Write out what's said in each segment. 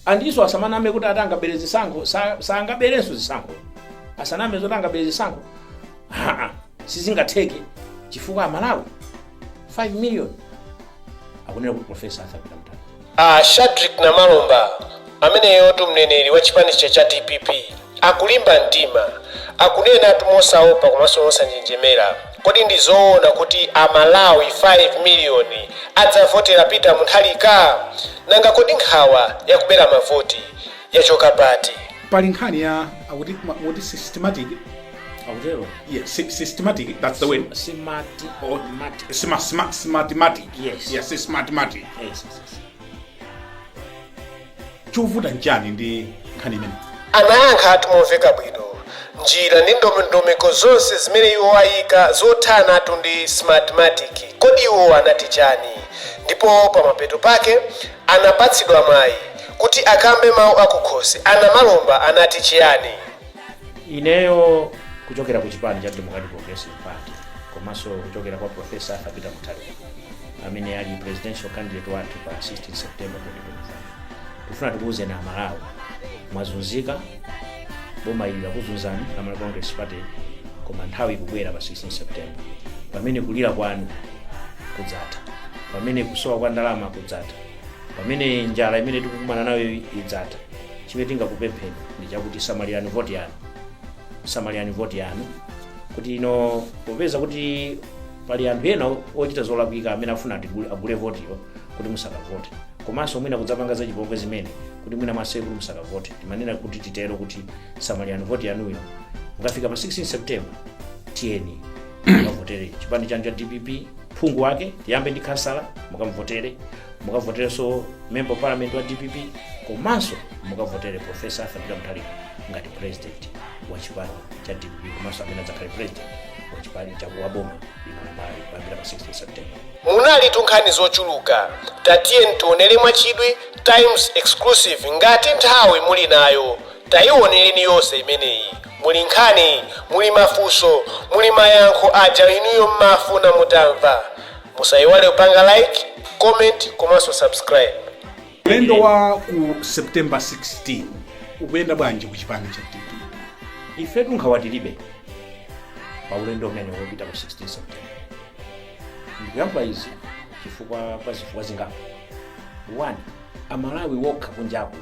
andiso asamaname kuti ati angabere zisankho sa- sangaberenso zisankho asaname zoti angabere zisankho haa sizingatheke chifukwa amalawi 5 million akunena kuti profesa Arthur Peter Mutharika shadrick namalomba ameneyotu mneneri wa chipanicho cha dpp Akulimba mtima, akunenatu mosaopa komanso mosanjenjemera. Kodi ndi zoona kuti a Malawi 5 miliyoni adzavotera Peter Mutharika? Nanga kodi nkhawa ya kubera mavoti yachoka pati? pali nkhani ya akuti ma- muti systematic akutero yeah, sy- systematic that's the word simati Oh. mati smart smart smartmatic Yes. yes smartmatic yes, yes, yes. Chovuta nchani ndi nkhani imeneyi? Anayankhatu momveka bwino njira ndi ndondomeko zonse zimene iwo ayika zothanatu ndi Smartmatic kodi iwo anati chani ndipo pamapeto pake anapatsidwa mwayi kuti akambe mawu akukhosi a Namalomba anati chiyani? Ineyo kuchokera ku chipani cha Democratic Progressive Party komanso kuchokera kwa Prof. Arthur Peter Mutharika amene ali Presidential Candidate wathu pa 16 September 2025, tufuna tikuuzeni amalawi mwazunzika boma ili lakuzunzani la malawi congress party koma nthawi ikubwera pa 16 september pamene kulira kwanu kudzatha pamene kusowa kwa ndalama kudzatha pamene njala imene tikukumana nayo idzatha chimene tingakupempheni ndi chakuti samalirani voti yanu samalirani voti yanu kuti ino popeza kuti pali anthu ena ochita zolakwika amene afuna agule- agule votiyo kuti musakavote komanso mwina kudzapanga zachipongwe zimene kuti mwina mwaseze kuti musakavote timanena kuti titero kuti samalirani voti yanuyo mukafika pa 16 september tiyeni mukavotere chipani chanu cha dpp phungu wake tiyambe ndi khansala mukamuvotere mukavoterenso member of parliament wa dpp komanso mukavotere profesa Arthur Peter Mutharika ngati president wa chipani cha dpp komanso amene adzakhale president wa chipani cha wa boma lino la Malawi kuyambira pa 16 september munalitu nkhani zochuluka tatiyeni tionere mwachidwi times exclusive ngati nthawi muli nayo tayiwonereni yonse imeneyi muli nkhani muli mafunso muli mayankho aja inuyo mmafuna mutamva musayiwale kupanga like comment komanso subscribe ulendo wa ku september 16 ukuyenda bwanji ku chipani cha dpp ife tunkhawa tilibe pa ulendo umene opita ku 16 september ndikuyamba izi chifukwa pa zifukwa zingapo one amalawi okha kunjaku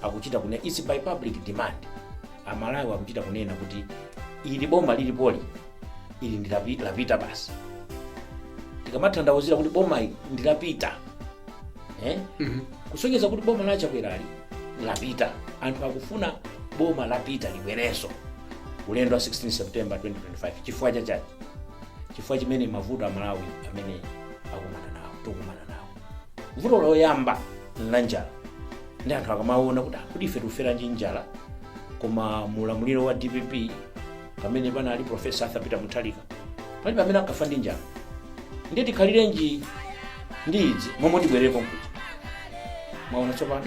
akuchita kunena it's by public demand amalawi akuchita kunena kuti ili boma lilipoli ili ndi lapita basi tikamathandauzira kuti boma ndi lapita eh? Mhm. kusonyeza kuti boma la chakwera lapita anthu akufuna boma la dpp libwerenso ulendo wa 16 september 2025 chifukwa chachani chifukwa chimene mavuto amalawi amene akukumana nawo tikukumana nawo vuto loyamba la njala ndiye anthu akamaona kuti "Ah, kodi ife tikufa ndi njala koma mu ulamuliro wa dpp pamene panali profesa arthur peter mutharika palibe amene ankafa ndi njala ndiye tikhalirenji ndi izi momwe tibwerere konkuja mwaona tsopano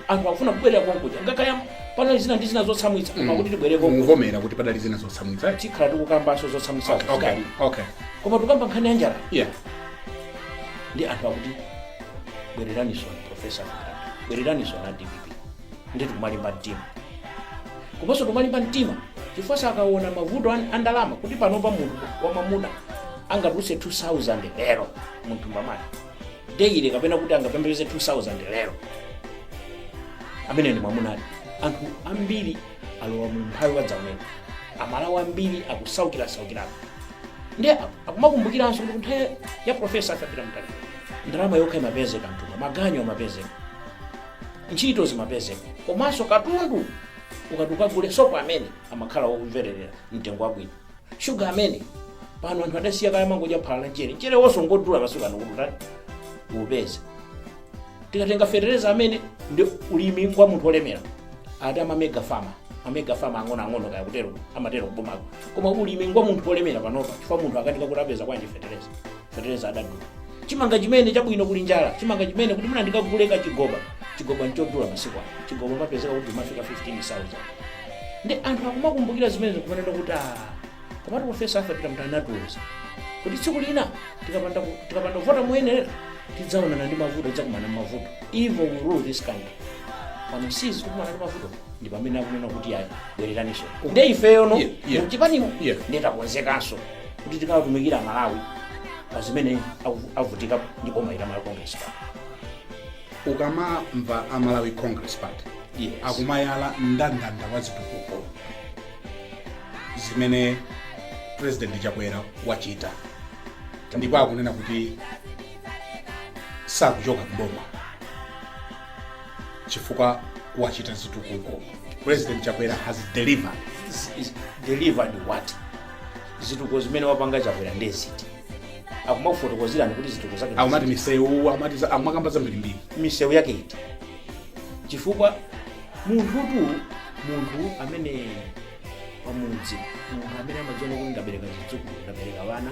anthu akufuna kubwerera konkuja kaya panali zina ndi zina zotsamwitsa koma kuti tibwerere konkuja mukuvomera kuti padali zina zotsamwitsa tikhala tikukambanso zotsamwitsazo okay zidali okay koma tukamba nkhani ya njala yeah ndiye anthu akuti bwereraninso profesa bwereraninso ndi dpp ndi tikumalimba mtima komanso tikumalimba mtima chifukwanso akaona mavuto an- a ndalama kuti panopa munthu wamamuna angatulutse 2000 lero munthu mwamuna daily kapena kuti angapeze 2000 lero ameneyo ndi mwamuna ati anthu ambiri alowa mu umphawi wadzaoneni amalawi ambiri akusaukirasaukira ndiye akumakumbukiranso kuti nthawi ya profesa arthur peter mutharika ndalama yokha imapezeka mthumba maganyu amapezeka ntchito zimapezeka komanso katundu ukati ukagule sopo amene amakhala wokomera mtengo wabwino shuga amene pano anthu adasiya kale amangomwa phala la mchere mcherewonso ngodula masiku ano kuti uthe uupeze tikatenga fetereza ameneyu ndiye ulimi ngwa munthu olemera ati amamega fama amega fama ang'onoang'ono kaya akutero amatero kubomako koma ulimi ngwa munthu olemera panopa chifukwa munthu akukanika kuti apeza bwanji fetereza fetereza adadula chimanga chimene chabwino kuli njala chimanga chimene kuti mwina ndikagule kachigoba chigoba nchodula masiku ano chigoba chimapezeka chikumafika 15000 ndiye anthu akumakumbukira zimenezo kumanena kuti "Ah, komatu profesa arthur peter mutharika anatiuza kuti tsiku lina tikapanda ku- tikapanda kuvota moyenera tidzaonana ndi mavuto tidzakumana ndi mavuto evil will rule this country pano si izi tikukumana ndi mavuto ndi pamene akunena kuti ayi bwereraninso nde ifeyo no Yeah, yeah. muchipanimu Yeah. nde takonzekanso kuti tikawatumikire amalawi pa zimene aku- avutika ndi boma ili la malawi congress party ukamamva a malawi congress party Yes. akumayala mndandanda wa zitukuko zimene president chakwera wachita ndipo akunena kuti sakuchoka mboma chifukwa wachita zitukuko president chakwera has delivered has, has delivered what zitukuko zimene wapanga chakwera ndeziti akumakufotokozerani kuti zitukuko zake akumati ndeziti. misewu akumati za- akumakamba zambirimbiri misewu yake iti chifukwa munthutu munthu amene pamudzi munthu amene amadziona kuti ndabereka zidzukulu ndabereka ana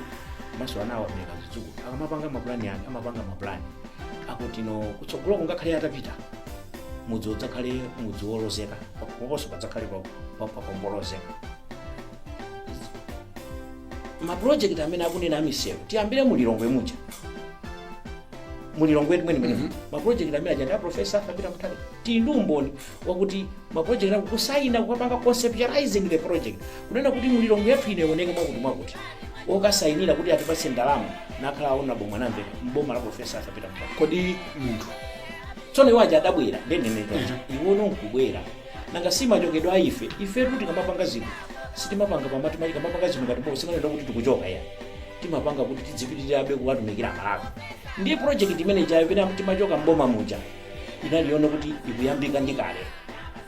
komanso anawo abereka zidzukulu akamapanga mapulani ake amapanga mapulani akuti kuno kutsogolo kungakhale atapita mudzi udzakhale mudzi wolozeka komanso padzakhale pa- pa- pa- polozeka mapulojekiti amene akunena amisewu tiyambire mu lilongwe muja mu lilongwe mwenemuno mm -hmm. mapulojekiti amene aja ndi aprofesa Peter Mutharika tili ndi umboni wakuti mapulojekiti ake kusayina kukapanga conceptualizing the project kunena kuti mu lilongwe yathu ino ioneke mwakuti mwakuti okasayinira kuti atipatse ndalama nakhala aona boma namveka mboma la profesa Peter Mutharika kodi munthu tsono iwo aja adabwera ndenenetoja iwo nkubwera nanga si timachokadi ife ifetu tikamapanga zinthu sitimapanga pamati tikamapanga zinthu ngati boma sikunena kuti tikuchoka ayi timapanga kuti tidzipitirirabe kuwatumikira amalawi ndiye project imene ijayo pamene timachoka mboma muja inali yonena kuti ikuyambika ndi kale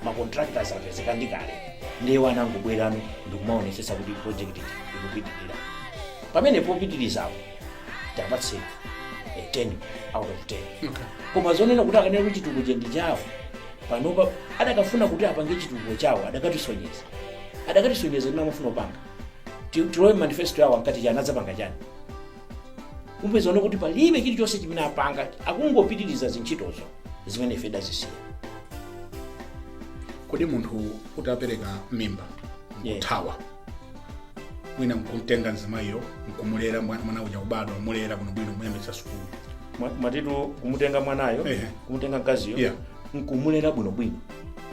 ma contractors apezeka ndi kale ndiye awa angobwerano ndikumaonesesa kuti project iti ikupitirira pamene popitirizapo tiwapatse eh, 10 out of 10 koma zonena kuti akanena kuti chitukuko ndi chawo panopa adakafuna kuti apange chitukuko chawo adakatisonyeza adakatisonyeza zina amafuna kupanga Ti- tilowe mmanifesto yawo ankati chani adzapanga chani mupeza kuti palibe chilichonse chimene apanga akungopitiriza zintchitozo zimene ife tidazisiya kodi munthu utapereka mimba Yeah. kuthawa wina nkumtenga mzimayiyo nkumulera mwa- mwana uja kubadwa kumulera bwinobwino kumuyambitsa sukulu Mwa- mwatitu kumutenga mwanayo Ehe. kumutenga mkaziyo Yeah. nkumulera bwinobwino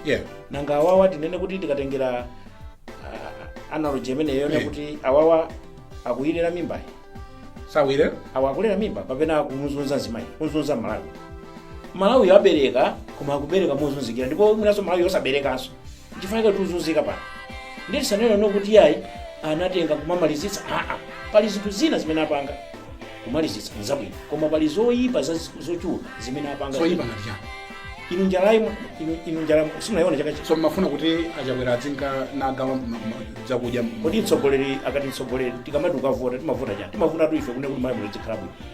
yeah nanga awawa tinene kuti tikatengera ah, analogy imeneyo Eh. kuti awawa akuyilera mimbayi ayi awa akulera mimba kapena akumuzunza mzimayi kumuzunza malawi malawi abereka koma akubereka mozunzikira ndipo mwinanso malawi osaberekanso nchifukwa chake tikuzunzika pano ndiye tisanene kuti iyayi anatenga kumamalizitsa aa pali zinthu zina zimene apanga kumalizitsa nzabwino koma pali zoyipa za- zochuluka zimene apanga zoyipa ngati chani inu njalayi inu- inu njalayi simunayiona chaka chino so mmafuna kuti achakwera adzinka nagawira ma- ma- zakudya kodi mtsogoleri akati mtsogoleri tikamati ukavota timavota chani timavota tu ife kune kuti malamulo zikhala bwino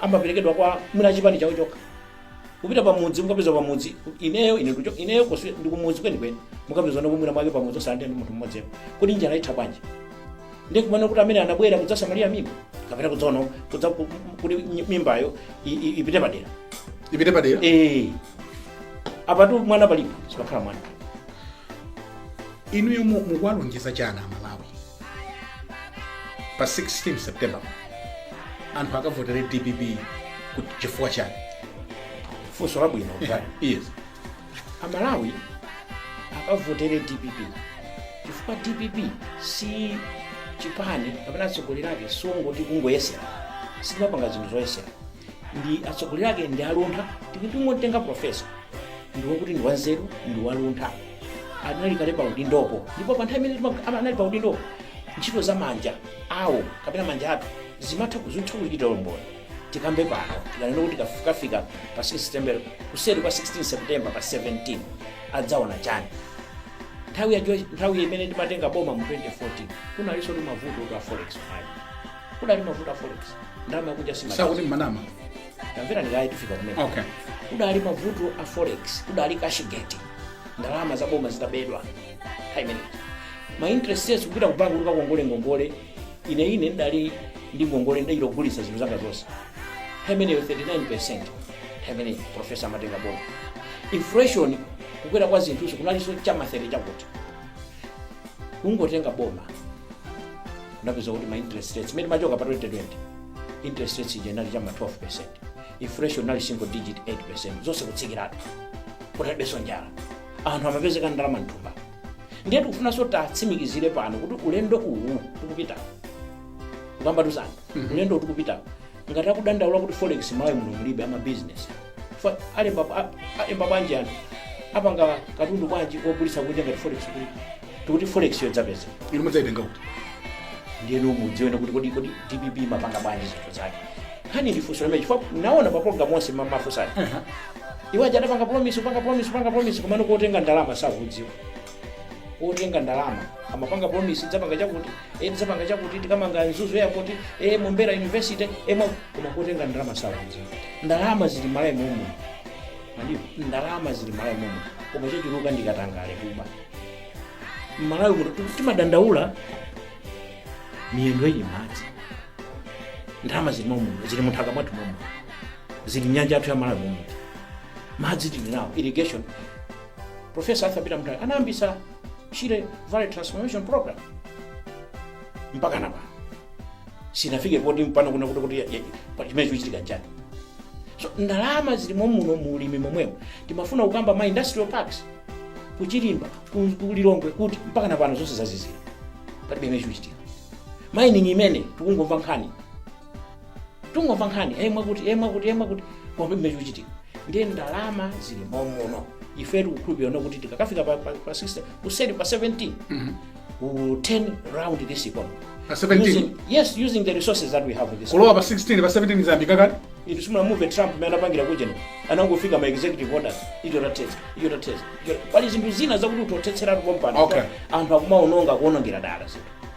amaperekedwa kwa mwina achipani chawo chokha kupita pamudzi mukapeza pamudzi ineyo ine kucho- ineyo because ndikumudzi kwenikweni mukapeza ndipo mwina mwake pamudzi osalandira ndi munthu mmodziyo kuti njala itha bwanji ndikunena kuti amene anabwera kudzasamalira mimba kapena kudzaononga kudza ku- kuti nyi- mimbayo i- i- ipite padera ipite padera Eh. apatu mwana palibe sipakhala mwana inuyo mu- mukuwalonjeza chani amalawi pa 16 september anthu akavotere dpp kuti chifukwa chani funso labwino yes amalawi akavotere dpp chifukwa dpp si chipani kapena atsogoleri ake songoti kungoyesera sitimapanga zinthu zoyesera ndi atsogoleri ake ndi aluntha tikuti tingotenga profesa ndi wokuti ndi wanzeru ndi waluntha anali kale pa udindopo ndipo pa nthawi imene tima- ama- anali pa udindopo ntchito za manja awo kapena manja athu zimatha kuzitha kuchita umboni tikambe pano tikanena kuti tikafika pa 6 september kuseri kwa 16 september pa 17 adzaona chani nthawi imene timatenga boma mu 2014 kunalinso ndi mavuto a forex kudali mavuto a forex ndalama yakunja sakuti simatani mmanama tamverani kaye tifika kumene okay kudali mavuto a forex kudali cashgate ndalama za boma zitabedwa nthawi imeneyi ma interest rates kupita ku banki kuti ukakongole ngongole ine ine ndidali ndi ngongole ndidachita kugulitsa zinthu zanga zonse nthawi imeneyo 39 percent nthawi imeneyi profesa amatenga boma inflation kukwera kwa zinthuzo kunalinso chama 30 chakuti kungotenga boma unapeza kuti ma interest rates mmene timachoka pa 2020 interest rates ija inali chama 12 percent inflation inali single digit 8 percent zonse kutsikiratu kunalibenso njala anthu amapezeka ndalama mthumba ndiye tikufunanso tiwatsimikizire pano kuti ulendo uwu tikupita ukambatu zanu ulendo uwu tikupita ngati akudandaula kuti forex mmalawi muno mulibe ama business Fa- alemba a- alemba bwanji anthu apanga katundu bwanji wogulitsa kunja ngati forex kulibe tikuti forex yodzaipeza inu mudzaitenga kuti ndiyeno mudziwene kuti kodi kodi dpp imapanga bwanji zinthu zake nkhani ndi funso limene chifukwa ndaona pa program onse ma- mumafunsa iwo aja adapanga promise upanga promise upanga promise komano kotenga ndalama sakudziwa otenga ndalama amapanga promise tidzapanga chakuti eh, tidzapanga chakuti tikamanga mzuzu airport eh, mombera university eh, mwa- koma kotenga ndalama sakudziwa ndalama zili mmalawi momwemuno ndalama zili mmalawi momwe koma chachuluka ndi katangale kuba mmalawi muno tu- timadandaula miyendo ili mmadzi ndalama zili momwe zili munthaka mwathu momwe zili nyanja yathu ya malawi momwe madzi tili nawo irrigation Profesa Arthur Peter Mutharika anayambitsa Shire Valley Transformation Program mpaka napano sinafike poti pano kuna kuti kuti ya- ya- pa- chimene chikuchitika nchani so ndalama zili mommuno mu ulimi momwemo timafuna kukamba ma industrial parks kuchilimba ku- ku lilongwe kuti mpaka napano zonse zazizira palibe chimene chikuchitika mining imene tikungomva nkhani tungomva nkhani yemwe mwakuti yemwe mwakuti yemwe mwakuti koma pamene chikuchitika ndiye ndalama zili momuno ife tikukhulupirira kuti tikakafika pa, pa, pa 60 kuseri kwa 17 we will turn around this economy Pa 17? using, yes using the resources that we have in this kulowa pa 16 pa 17 zambika kale inu simunamumve Trump amene anapangira kucheno anangofika ma executive orders icho tathetsa icho tathetsa icho- pali zinthu zina zakuti ungothetsera anthu pompano Okay. anthu akumaononga kuonongera dala zinthu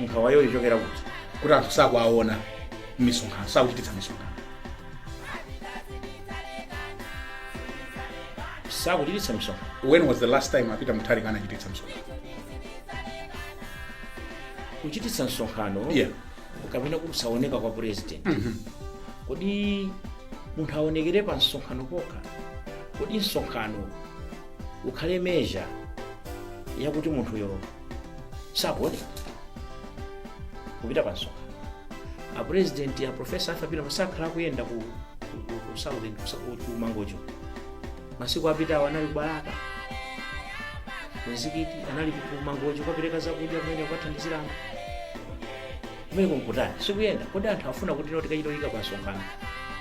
nkhawayo ichokera kuti kuti anthu sakuwaona m'misonkhano sakuchititsa misonkhano sakuchititsa misonkhano when was the last time a Peter Mutharika anachititsa msonkhano kuchititsa msonkhano yeah kapena kusaoneka kwa president kodi munthu aonekere pa msonkhano pokha kodi msonkhano ukhale measure yakuti munthuyo sakuoneka kupita pa msonkhano apurezidenti aprofesa afe a Peter akhala akuyenda ku ku- ku- ku southern ku- ku- ku Mangochi masiku apitawo anali ku Balaka mzikiti anali ku- ku Mangochi kukapereka zakudya kumene kukathandizira anthu kumene kuja nkutani sikuyenda kodi anthu afuna kuti lero tikachite kuyika pa msonkhano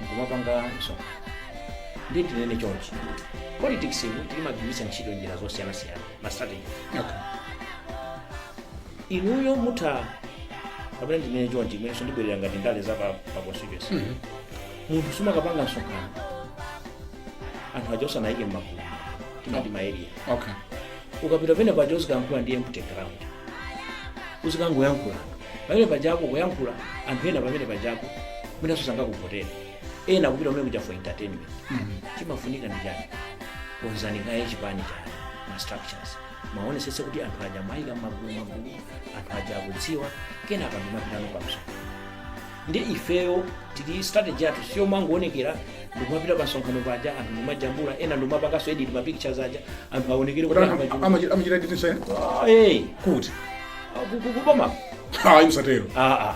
nkumapanga msonkhano ndiye tinene chonchi politics mu timagwiritsa ntchito njira zosiyanasiyana ma strategy okay. inuyo mutha kapena ndinene chonchi inenso ndibwerera ngati ndale za pa pa constituency Mhm. munthu sumakapanga msonkhano anthu aja osawaika mmagulu timati ma area okay. ukapita pamene paja uzikalankhula ndi empty ground uzikangoyankhula pamene pajako kuyankhula anthu ena pamene pajako mwinanso sangakuvotere ena kupita kumene kuja for entertainment chimafunika ndi chani konzani kaye chipani chanu ma structures muonetsetse kuti anthu aja mwawaika magulu magulu anthu aja akudziwa kenaka ndikumapitano pamso ndi ifeyo tili ndi strategy yathu si yomangoonekera ndikumapita pamsonkhano paja anthu ndikumajambula ena ndikumapanganso edit ma pictures aja anthu aonekere kuti anthu achuluka. amachita amachita editing so ena Ah, eh, kuti ku- ku- ku- kuboma ayi musatero ah, ah.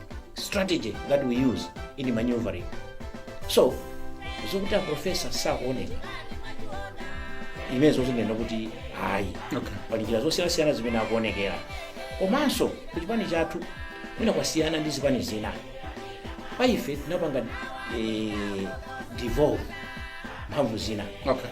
strategy that we use in maneuvering so zokuti aprofesa sakuoneka imenezo ndinganene kuti ayi Okay. pali njira zosiyanasiyana zimene akuonekera komanso ku chipani chathu mwina kwasiyana ndi zipani zina pa ife tinapanga eh, devolve mphamvu zina okay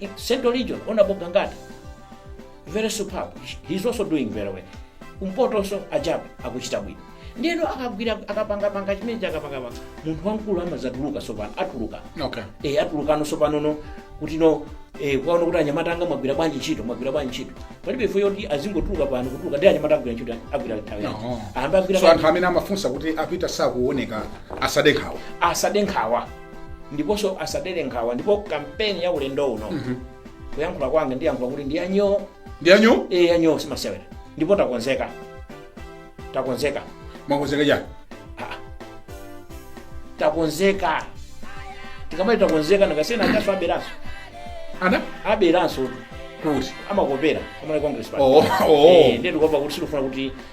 In Central Region, Honorable Gangata, very superb. He's also doing very well. Kumpoto also Ajabu akuchita bwino. Ndiyeno akagwira akapangapanga chimene chakapangapanga munthu wamkulu amadzatuluka sopano atuluka okay e, atulukano sopanono kuti no e, kwaona kuti anyamata anga mwagwira bwanji ntchito mwagwira bwanji ntchito palibe chifukwa choti azingotuluka pano kutuluka ndi anyamata agwira ntchito agwira nthawi yake No. ambe agwira so anthu amene amafunsa kuti a Peter sakuoneka asade nkhawa asade nkhawa ndiponso asadere nkhawa ndipo kampeni ya ulendo uno kuyankhula kwanga ndiyankhula kuti ndi yanyo ndi yanyo e yanyo simasewera ndipo takonzeka takonzeka mwakonzeka chani Ah. takonzeka tikamati takonzeka ndikasiyena akaso aberanso anaberanso kuti amakopera a Malawi Congress Party. oh oh Eh, ndiye ndikuopa kuti sitikufuna kuti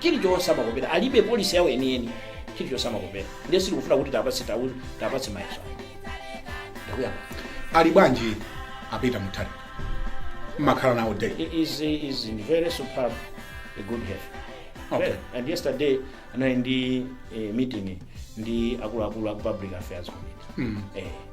chilichonse amakopera alibe policy yawo yeniyeni chilichonse amakopera ndiye sitikufuna kuti tiwapatse tau tiwapatse mayeso ayi ndakunyamba ali bwanji a Peter Mutharika mmakhala nawo day he is he is in very superb a good health Okay. Very. and yesterday anali ndi eh, meeting ndi akuluakulu aku public affairs committee eh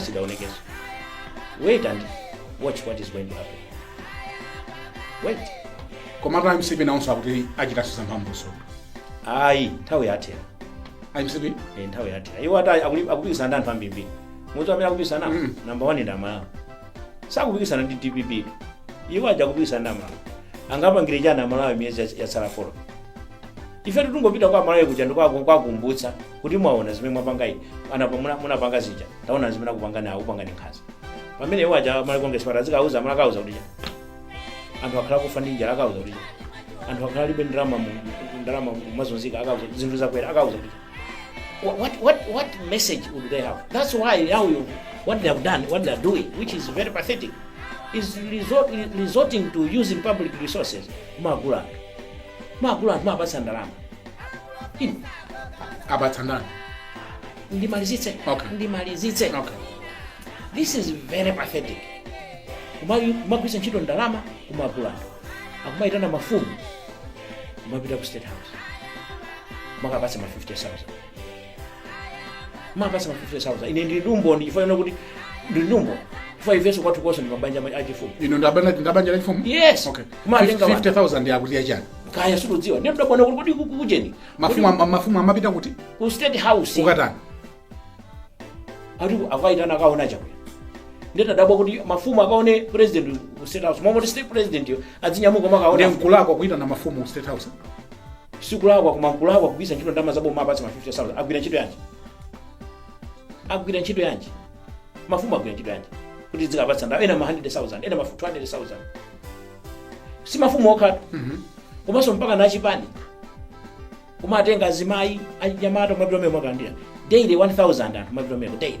sidaonekenso wait and watch what is going to happen wait komatu a mcp nawonso akuti achitanso zamphamvunso ayi nthawi yathera a mcp Eh, nthawi yathera iwo ati akuli- akupikisana ndi anthu ambirimbiri mwa anthu amene akupikisana nawo Mm. namba one ndi amalawi sakupikisana ndi dpp-tu. iwo aja akupikisana ndi amalawi angawapangire chani amalawi miyezi yats- yatsala folo ife tingopita kwa amalawi kuja ndikuwakumbutsa kuti mwaona zimene mwapanga iyi a- apa munapanga zija taona zimene akupanga nawo kupanga ndi nkhanza pamene iwo aja a Malawi kongeresi pate azikauza amalawi akauza kuti cha anthu akhala akufa ndi njala akauza kuti cha anthu akhala alibe ndalama mu- mu- ndalama amazunzika akauza kuti zinthu zakwera akauza kuti cha Wha- what what what message would they have that's why how you what they have done what they are doing which is very pathetic is resort, resorting to using public resources mwagula mwagula mwawapatsa ndalama Inu, awapatsa ndani ndimalizitse Okay. ndimalizitse okay this is very pathetic Kuma- kumagwiritsa ntchito ndalama kumagula anthu akumayitana mafumu kumapita ku state house kumakawapatsa ma 50000 kumawapatsa ma 50000 ine ndili ndi umboni chifukwa chonena kuti ndili ndi umboni chifukwa ifenso kwathu konse ndi mabanja ma- achifumu ine ndi wabanja ndi wabanja la chifumu Yes. okay Kumatenga wa- 50000 yakuti yachani kaya sindikudziwa ndiye ndadabwa kuti kodi kuku- kujeni mafumu ama- mafumu amapita kuti ku state house kukatani ati akaitana akaone chakwera ndiye tadabwa kuti mafumu akaone president ku state house mmalo moti state presidentiyo adzinyamuka kumakaona nde nkulakwa kuitana mafumu ku state house sikulakwa koma nkulakwa kugwiritsa ntchito ndalama zaboma apatse ma 50000 agwira ntchito yanji agwira ntchito yanji mafumu agwira ntchito yanji kuti azikapatsa ndalama ena ma 100000 ena ma 200000 si mafumu okhatu komanso mpaka na achipani kumatenga azimayi anyamata kumapita meko nkukalandira daily 1000 anthu kumapita meko daily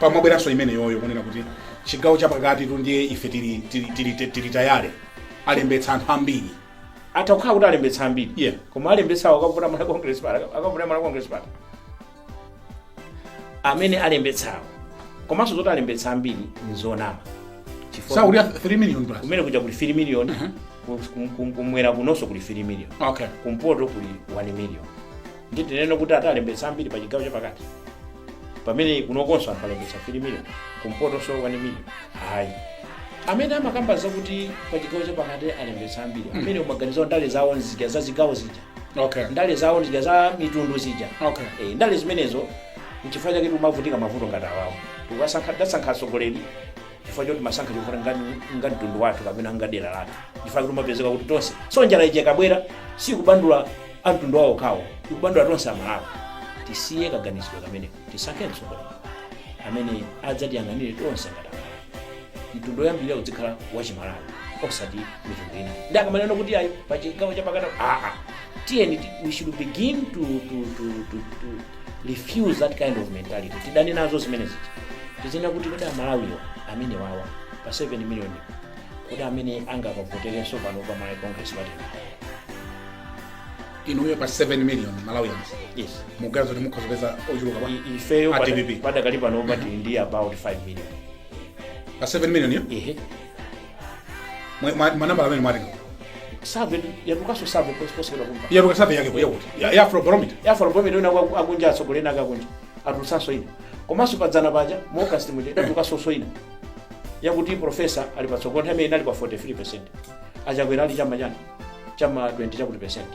pamabweranso imeneyoyo kunena kuti chigawo chapakati tu ndiye ife tili, tili, tili, tili, tili tayale alembetsa anthu ambiri atakhala kuti alembetsa ambiri Yeah. koma alembetsawo akavota Malawi congress party akavota Malawi congress party amene alembetsawo komanso zoti alembetsa ambiri nzonama Chifukwa sakuti 3 million plus kumene kuja kuli 3 million kum- kum- kum- kumwera kunonso kuli 3 million okay kumpoto kuli 1 million nde tinene kuti ati alembetsa ambiri pa chigawo chapakati pamene kunokonso anthu alembetsa 3 million kumpotonso 1 million ayi amene amakamba zakuti pa chigawo chapakati alembetsa ambiri ameneyo maganizo awo ndale zawo nzija za zigawo zija okay ndale zawo nzija za mitundu zija okay Eh, ndale zimenezo nchifukwa chake timavutika mavuto ngati awawo tikuwasankha tasankha atsogoleri chifukwa choti timasankha chifukwa ngati ngati mtundu wathu kapena ngati dera lathu chifukwa chake timapezeka kuti tonse so njala ija ikabwera sikupanda a mtundu wawo okhawo ikupanda tonse amalawi tisiye kaganizidwe kameneko tisankhe mtsogoleri amene adzatiyang'anire tonse ngati amalawi mtundu woyambirira uzikhala wachimalawi osati mitundu ina nde akamanena kuti ayi pachigawo chapakati aa tiyeni ti- we should begin to, to, to, to, to, refuse that kind of mentality tidane nazo zimenezi tizinena kuti kodi amalawiwo amenewawa pa 7 million kodi amene angakavoterenso pano pa malawi congress party inuyo pa 7 million malawians yes mukuganiza kuti mukhoza kupeza ochuluka pa- I- ifeyo A pada- DPP. padakali pano pati ndi about 5 million pa 7 million yo ehe Mwe- mwa- manambala amene mwatenga Survey yatulukanso survey pos- posukira kumva. yatuluka survey yake yakuti ya ya afrobarometer Ya afrobarometer ndiye ndi akunja atsogoleni akakunja. Atulutsanso ina. Komanso padzana paja mu August muja yatulukanso ina. Yakuti professor ali patsogolo nthawiyo anali pa 43%. Achakwera ali chama chani? Chama 20 chakuti percent.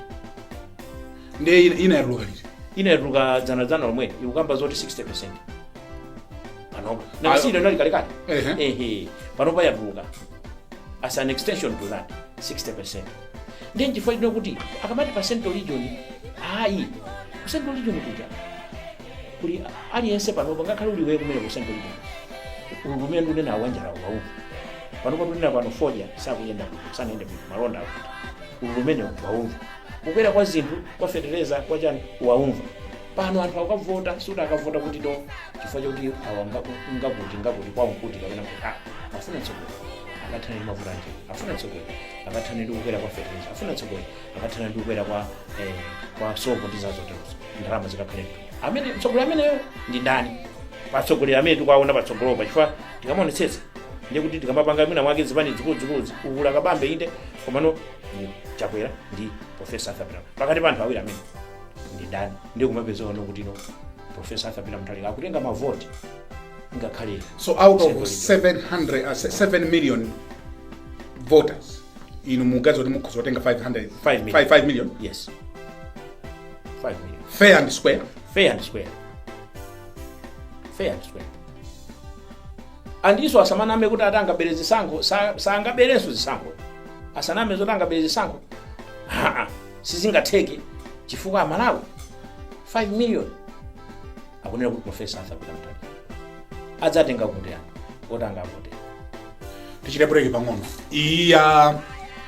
ndiye ina- ina yatuluka liti Ina yatuluka dzana dzana lomwe ikukamba zoti 60%. panopa nanga si iyo inali kalekale Ehe. ehe panopa yatuluka as an extension to that 60 ndiye nchifukwa chake ndikuti akamati pa central region ayi ku central region kuja kuli aliyense panopa ngakhale kuli kwawo komwe ku central region ululu umene ndikunena wanjala aumva panopa tunena pano fodya sakuyenda bwino sanayende bwino malonda akuti ululu umene aumva kukwera kwa zinthu kwa fetereza kwa chani aumva pano anthu akavota sikuti akavota kuti to chifukwa chakuti awa nga- ngakuti ngakuti kwawo nkuti kapena kuti a afuna mtsogoleri akathana ndi mavuto a njala afuna mtsogoleri akathana ndi kukwera kwa fertilizer afuna mtsogoleri akathana ndi kukwera kwa eh, kwa sopo ndi zazoterozo ndalama zikakhale mthumba amene mtsogoleri ameneyo ndi ndani pa atsogoleri amene tikuwaona patsogolopa chifukwa tikamaonetsetsa ndiye kuti tikamapanga mwina mwake zipani zikuluzikuluzi ukula kabambe inde komano chakwera ndi profesa arthur peter pakati pa anthu awiri amene ndi ndani ndiye kumapezano kuti no profesa arthur peter muthalika akutenga mavoti ngakhale so out of 700 uh, 7 million voters inu mukuganiza kuti mukhoza kutenga 500 Five million. 5, 5 million yes 5 million fair and square fair and square fair and square andiso asamaname kuti ati angabere zisankho sa- sangaberenso zisankho asaname zoti angabere zisankho Ha-ha. sizingatheke chifukwa amalawi 5 million akunena kuti profesa arthur peter muthalika adzatenga kuti anthu oti angavote tichite break pang'ono iyi ya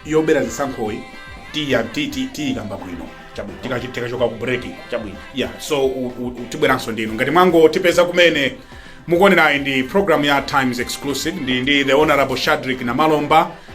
yobera zisankhoyi tiya ti- ti- tiyikamba bwino Chabwino. Tika- tikachoka ku break chabwino yeah so u- u- u- tibweranso ndinu ngati mwangotipeza kumene mukuonera iyi ndi program ya times exclusive ndi, ndi the honorable shadrick namalomba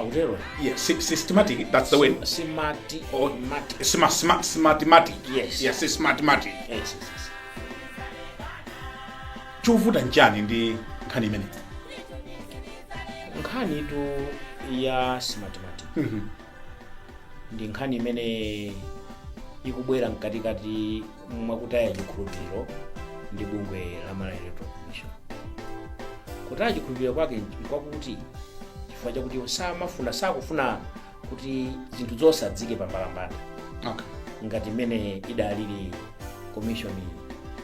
akutero yeah, sy- systematic that's the word simati or mati sma- sma- smartmatic Yes. yeah, smartmatic yes, yes, yes. chovuta nchani ndi nkhani imene nkhanitu ya smartmatic ndi nkhani imene ikubwera mkatikati mwakutaya chikhulupiriro ndi bungwe la malawi electoral commission kutaya chikhulupiriro kwake nkwakuti chifukwa chakuti iwo samafuna sakufuna kuti zinthu zonse aziike pambalambanda okay. ngati mmene idalili komishoni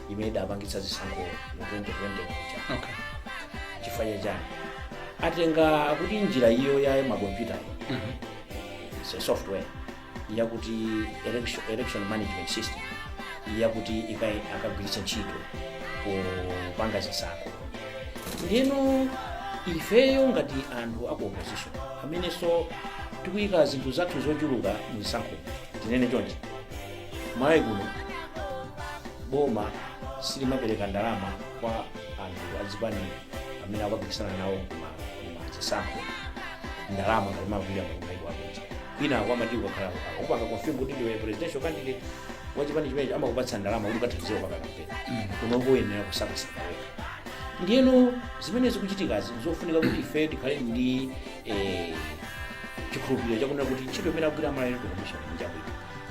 imene idapangitsa zisankho mu 2020 kuja okay. chifukwa cha chani atenga kuti njira iyo ya makompyuta mm -hmm. software yakuti election, election management system yakuti iyo akagwiritse ntchito kupanga zisankho ndiye no ifeyo ngati anthu aku opposition amenenso tikuyika zinthu zathu zochuluka mzisankho tinene chonchi malawi kuno boma silimapereka ndalama kwa anthu azipani amene akupikisana nawo mzisankho ndalama ngati mmene kumaiko akunja kwinako amati ukakhala ukupanga confirm kuti ndiwe presidential candidate wa chipani chimenecho amakupatsa ndalama kuti ukathandize kupanga kampeni kuno koyenera kusakasaka wekha ndiyeno zimene zikuchitikazi zofunika kuti ife tikhale ndi eh, chikhulupiriro chakunena kuti ntchito imene akugwira a Malawi electoral commission njabwino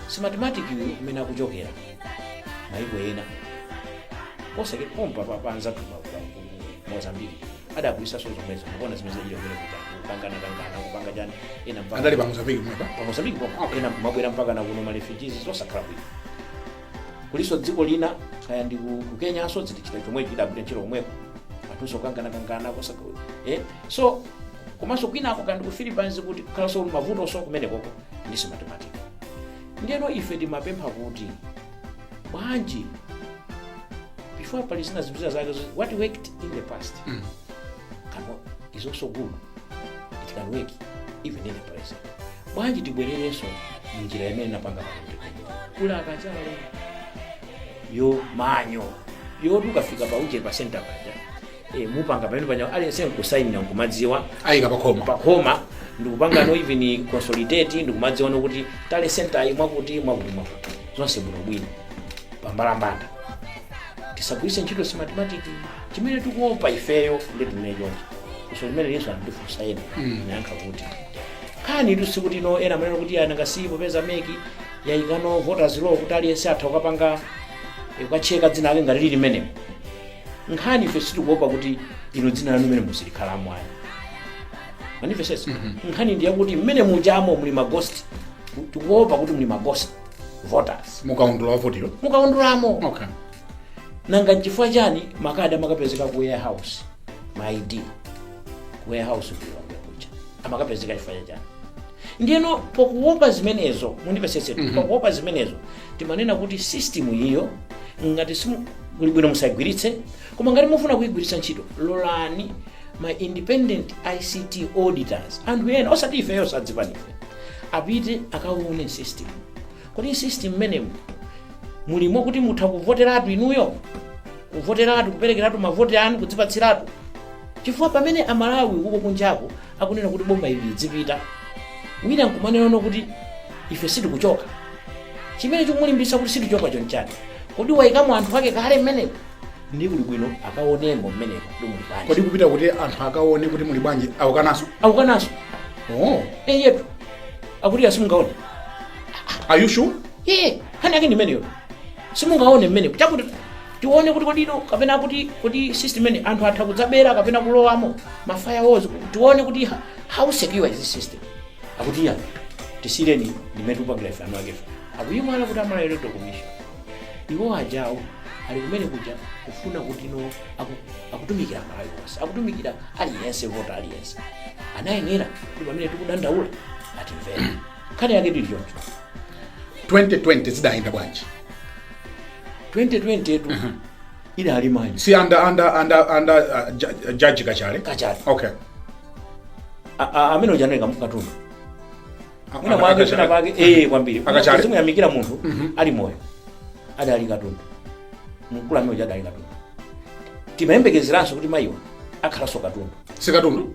Smartmatic imene akuchokera maiko ena posachedwa pompa pa- pa anzathu pa- pa- ku mozambiki adagwiritsanso zomwezo kuona zimene zachitika kumene kuja kukangana kangana kupanga chani ena mpaka andale pa mozambiki mwepa pa mozambiki pomwe Okay. ena kumabwera mpaka na kuno marefugees zosakhala bwino kulinso dziko lina kaya ndi ku ku kenya aso zitichita chomwe chidagwira ntchito komweko anthunso kangana kangana kosa eh so komanso kwinako kaya ndi ku philippines kutikhalanso mavuto so kumenekoko ndi Smartmatic ndiyeno ife timapempha kuti bwanji before pali zina zinthu zina zake zoti what worked in the past Mm. can, is also good it can work even in the present bwanji tibwererenso munjira imene anapanga kuti kuli akachale ya manual yoti ukafika pa uje pa center paja e, mupanga pamene panya aliyense nkusayinira nkumadziwa ayika pakhoma pakhoma ndikupanga no even consolidate ndikumadziwa nokuti tally center ayi mwakuti mwakuti mwakuti zonse bwinobwino pambalambanda tisagwiritse ntchito Smartmatic chimene tikuopa ifeyo ndi chimenecho funso limenelinso andifunsa ena ndayankha kuti nkhanitu sikuti no ena amanena kuti nanga si popeza MEC yayikano voters roll kuti aliyense atha kukapanga eh, kukacheka dzina lake ngati lili mmenemo nkhani ife sitikuopa kuti ilo dzina lanu mmene silikhalamo ayi manifestation nkhani ndi yakuti mmene mujamo muli magosti tikuopa kuti muli magosti voters mukaundula wa ovota mukaundulamo okay nanga nchifukwa chani makadi amakapezeka ku warehouse ma id ku warehouse ku Lilongwe kuja amakapezeka chifukwa chachani ndiyeno pakuopa zimenezo mundimvetsetse Mhm. pakuopa zimenezo timanena kuti system iyo ngati simu- kuli bwino musayigwiritse koma ngati mufuna kuyigwiritsa ntchito lolani ma independent ict auditors anthu ena osati ifeyonso azipanife apite akaone system kodi system mmenemu mulimo kuti mutha kuvoteratu inuyo kuvoteratu kuperekeratu mavoti anu kudzipatsiratu chifukwa pamene amalawi uko kunjako akunena kuti boma ili lidzipita wina nkumanenano kuti ife sitikuchoka chimene chikumulimbisa kuti sitikuchoka choncho nchani kodi waikamo anthu ake kale mmenemo ndi kuli bwino akaonemo mmenemo kuti muli bwanji kodi kupita kuti anthu akaone kuti muli bwanji akukanaso akukanaso oh. eyetu akuti asimungaone are you sure iye nkhani yake ndimeneyo simungaone mmenemo chakuti tione kuti kodi no kapena kuti kuti system imene anthu atha kudzabera kapena kulowamo ma firewalls tione kuti ha- how secure is this system akuti ya tisiyireni ndimene tupangira ife eni akefe akuyiwala kuti a malawi electoral commission iwo ajawo ali kumene kuja akufuna kuti no aku- akutumikira malawi onse akutumikira aliyense vota aliyense anayenera kuti pamene tikudandaula atimvera nkhani yake ili choncho 2020 zidayenda bwanji 2020 tu idali manje si anda anda anda anda uh, ju- judge kachale kachale okay A- a- amene uja ndi kamkatundu A- mwina anda mwake Kachale. pena pake eh kwambiri Akachale. simuyamikira munthu ali moyo adali katundu mkulu amene uja adali katundu timayembekezeranso kuti mayiwa akhalanso katundu si katundu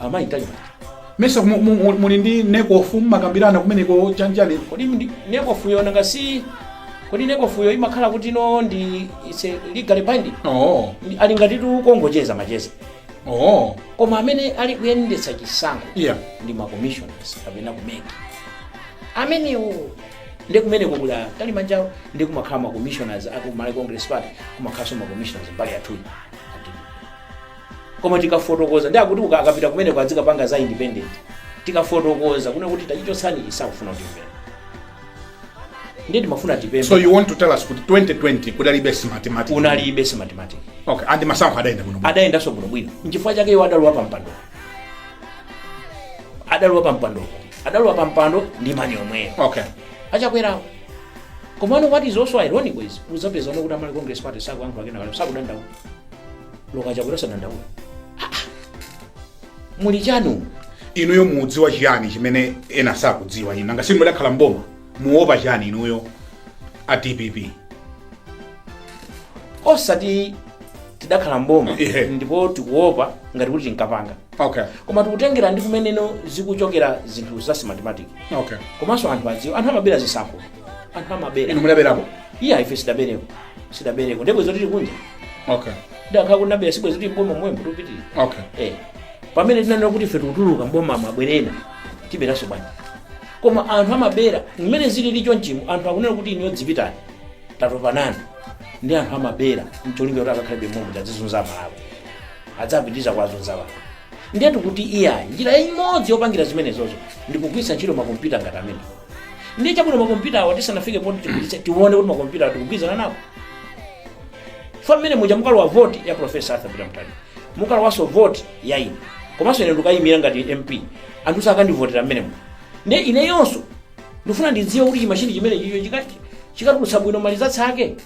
amayi talimani mesa mu- mu- mu- muli ndi nekofu mumakambirana kumeneko chanjani kodi ndi- nekofuyo nanga si kodi nekofuyo imakhala kuti no ndi it's a legally binding oo Ndi- ili ngati tikungocheza macheza oo koma amene ali kuyendetsa chisankho iya ndi macommissioners kapena kumeki amenewo ndi kumene kuli a talimanjawo ndi kumakhala macommissioners aku malawi congress party kumakhalanso macommissioners mbali yathuyi koma tikafotokoza ndi akuti uka- akapita kumeneko azikapanga za independent tikafotokoza kunena kuti tachichotsani sakufuna kutimvera ndiye timafuna tipembe so you want to tell us kuti 2020 kudalibe smartmatic unalibe smartmatic okay and masankho adayenda bwino adayendanso bwinobwino nchifukwa chake iwo adalowa pampando adalowa pampando adalowa pampando ndi mani omweyo okay achakwerawo komano what is also ironic is uzapezano kuti a malawi congress party sakuyankhula kena kale sakudandaula olo a chakwera sakudandaula muli chani umu inuyo mudziwa chiyani chimene ena sakudziwa inu nanga si inu mudakhala mboma muopa chiyani inuyo a dpp osati tidakhala mboma Ihe. ndipo tikuopa ngati kuti tinkapanga okay koma tikutengera ndi kumene zikuchokera zinthu za smartmatic okay komanso anthu akudziwa anthu amabera zisankho anthu amabera inu mudaberapo iyayi ife sitidabereko sitidabereko ndipo izo tili kunja okay tikadakhala kuti tinabera sibwenzi tili mboma momwemo tupitira okay eh pamene tinanena kuti ife tikutuluka mboma mobwera tiberanso bwanji koma anthu amabera mmene zilili cho mchimo anthu akunena kuti inuyo dzipitani tatopa nanu ndi anthu amabera mcholinga kuti akakhalebe momwemo azizunza malawi adzapitirize kuwazunza anthu ndiye tikuti iyayi njira imodzi yopangira zimenezozo ndikugwiritsa ntchito makompyuta ngati amene ndiye chabwino makompyutawa tisanafike poti tigulitse tione kuti makompyuta tikugwirizana nawo mmene muja mukalowa voti ya profesa arthur Peter Mutharika mukalowanso voti ya ine komanso ine ndikayimira ngati mp anthu sakandivotera mmene muja nde ineyonso ndifuna ndidziwe kuti chimashini chimene chicho chikati chikatulutsa bwino malizati ake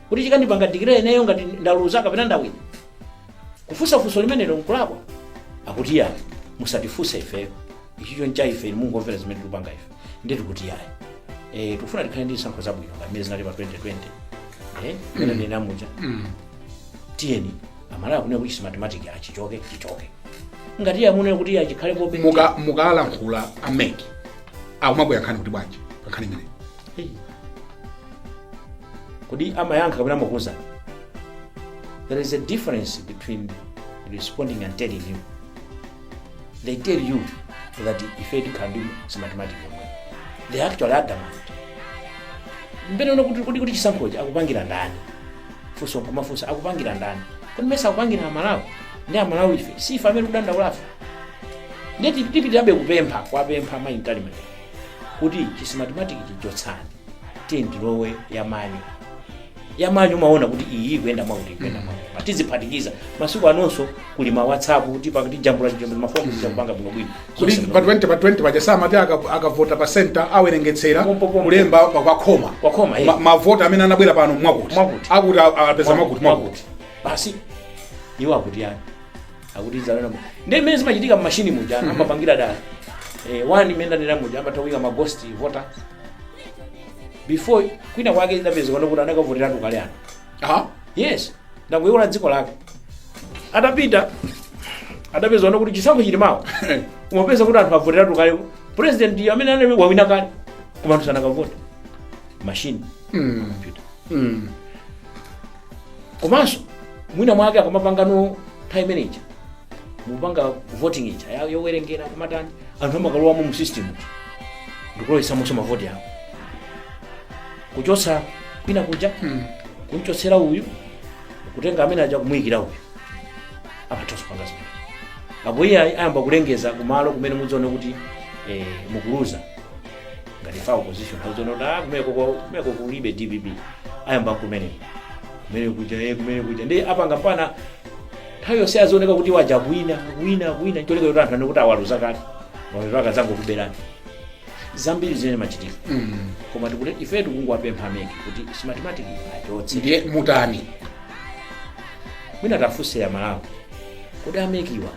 kuti chikandipanga dikileya ineyo ngati ndaluza kapena ndawina kufunsa funso limenelo nkulakwa akuti yayi musatifunse ifeyo ichicho ncha ife inu mungomvera zimene tikupanga ife ndiye tikuti yayi eh, tikufuna tikhale ndi zisankho zabwino pamene zinalili pa 2020 eh, mmene ndinena muja tiyeni amalawi akunena kuti simatematiki achichoke chichoke ngati iye akunena kuti iye chikhalepobe muka mukalankhula ameki akumakuyankhani kuti bwanji pankhani imeneyi Hey. kodi amayankha kapena amakuuzani there is a difference between responding and telling you they tell you that ife tikhala ndi simatimatiki yomwe they're actually adamant pena umaona kuti kuti kuti chisankhochi akupangira ndani funso kumafunsa akupangira ndani kodi mesa akupangira amalawi nde amalawi ife si ife amene tikudandaulafe ndiye tipitirirabe kupempha kuwapempha maintalimene kuti chisimatimatiki chichotsani tiyeni tilowe yamanyuwo yamanyuwo umaona kuti iyi ikuyenda mwakuti ikuyenda mwakuti Pa tiziphatikiza masiku anonso kuli ma whatsapp kuti pakati jambula jambula mafoni tizapanga bwino bwino kuti Zonse pa 20 pa 20 paja samati aka- akavota pa center awerengetsera Pompo, pompo. kulemba pa- kwa khoma Kwa khoma, eh. Ma- mavota amene anabwera pano mwakuti Mwakuti. akuti a- apeza mwakuti mwakuti basi iwo akuti ayi akuti idzalana mu- ndi mmene zimachitika mmashini muja amapangira dala eh, wani imene ndanena muja amatha kuyika ma ghost voter before kwina kwake idapezekano kuti anakavoteratu kale ano aha yes ndakuiona dziko lake atapita adapezekano kuti chisankho chili mawa umapeza kuti anthu avoteratu kale president amene anali wawina kale koma anthu sanakavote mashini Mm. computer Mm. komanso mwina mwake akamapangano nthawi imene ija mupanga voting ija ya- yowerengera kumatani anthu amakalowamo mu system ndikulowetsamonso mavoti awo kuchotsa kwina kuja kumchotsera uyu kutenga amene aja kumuyikira uyu amathanso kupanga zimenezo apo iye ayamba kulengeza kumalo kumene mudzione kuti eh, mukuluza ngati ife a opposition azionona kumeko kumeko kulibe dpp ayamba kumene kumene kuja ye kumene kuja ndi apanga pana nthawi yonse azioneka kuti waja akuwina akuwina akuwina cholinga kuti anthu anene kuti awaluza kale awa eti akazangokuberani zambiri zimene zimachitika koma tikuti ife tikungowapempha ameki kuti simatematiki achotse ndiye mutani mwina tafunseni amalawi kodi amekiwa